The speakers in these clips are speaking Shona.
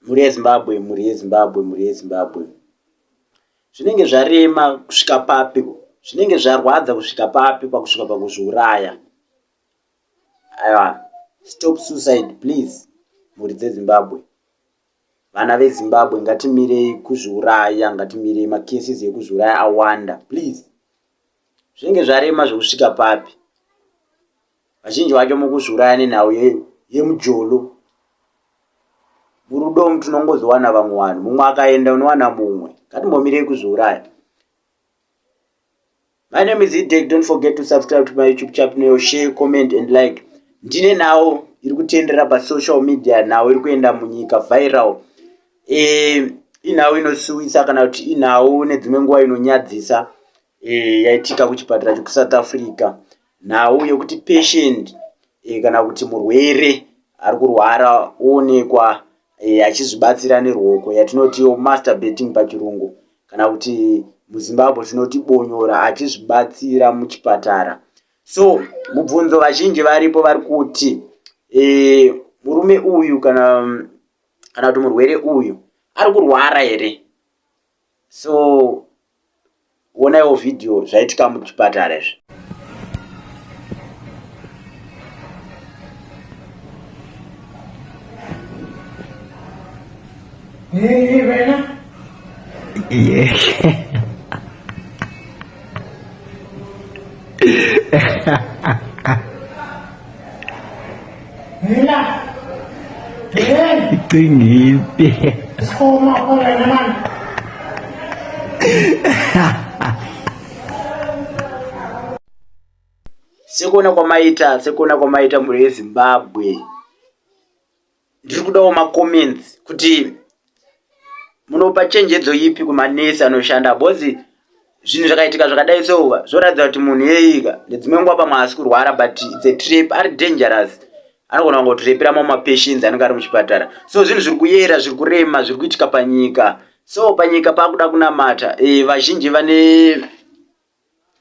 mhuri yezimbabwe mhuri yezimbabwe mhuri yezimbabwe zvinenge zvarema kusvika papi zvinenge zvarwadza kusvika papi pakusvika pakuzviuraya aiwa stop suicide please mhuri dzezimbabwe Vana veZimbabwe ngatimirei kuzviuraya, ngatimirei macases ekuzviuraya awanda please. Zvinenge zvarema zvekusvika papi? Vazhinji vacho mukuzviuraya nenhau yemujolo. Murudo umu tinongozowana vamwe vanhu, mumwe akaenda unowana mumwe. Ngatimbomirei kuzviuraya. My name is Idek. Don't forget to subscribe to my YouTube channel, share, comment and like. Ndine nawo iri kutendera pa social media nawo iri kuenda munyika viral. Eh, inawo inosuwisa kana kuti inawo nedzimwe nguva inonyadzisa eh yaitika kuchipatara cheku South Africa. Nhau yokuti patient eh, kana kuti murwere ari kurwara oonekwa eh, achizvibatsira neruoko yatinotiwo masturbating pachirungu kana kuti muzimbabwe tinoti bonyora achizvibatsira muchipatara so mubvunzo vazhinji varipo vari kuti e, murume uyu kana kana kuti murwere uyu ari kurwara here so onaiwo vhidhiyo zvaitika muchipatara izvi Yeah. Tingite. Soma kore naman. Sekuona kwamaita, sekuona kwamaita mhuri yeZimbabwe. ndiri kudawo macomments kuti munopa chenjedzo ipi kumanesi anoshanda bhozi zvinhu zvakaitika zvakadai souva zvoratidza kuti munhu yeika nedzimwe nguva pamwe haasi kurwara but its a trap ari dangerous anogona kungotirepira mamwe mapatients anenge ari muchipatara so zvinhu zviri kuyera zviri kurema zviri kuitika panyika so panyika paakuda kunamata e, vazhinji vane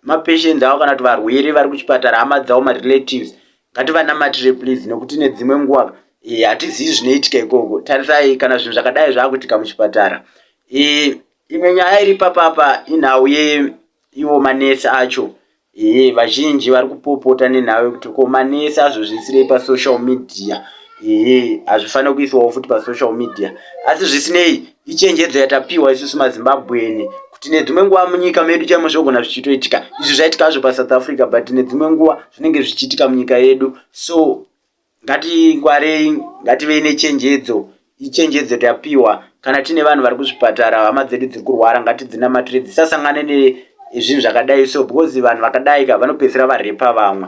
mapatients avo kana kuti varwere vari kuchipatara hama dzavo marelatives ngativanamatire please nokuti nedzimwe nguva eh, hatizivi zvinoitika ikoko tarisai kana zvinhu zvakadai zvaakuitika muchipatara eh, imwe nyaya iri papapa inhau yeivo manesi acho eh, vazhinji vari kupopota nenhau yekuti ko manesi azozviisirei pasocial media hazvifaniri kuiswawo futi pasocial media asi zvisinei Ichenjedzo yatapiwa isusu mazimbabweni kuti nedzimwe nguva munyika medu chaimo zvogona zvichitoitika izvi zvaitika zvo pasouth africa but nedzimwe nguva zvinenge zvichiitika munyika yedu so ngatingwarei ngativei nechenjedzo ichenjedzo tapiwa kana tiine vanhu vari kuzvipatara hama dzedu dziri kurwara ngatidzinamatire dzisasangane nezvinhu zvakadai so because vanhu vakadai ka vanopedzisira varepa vamwe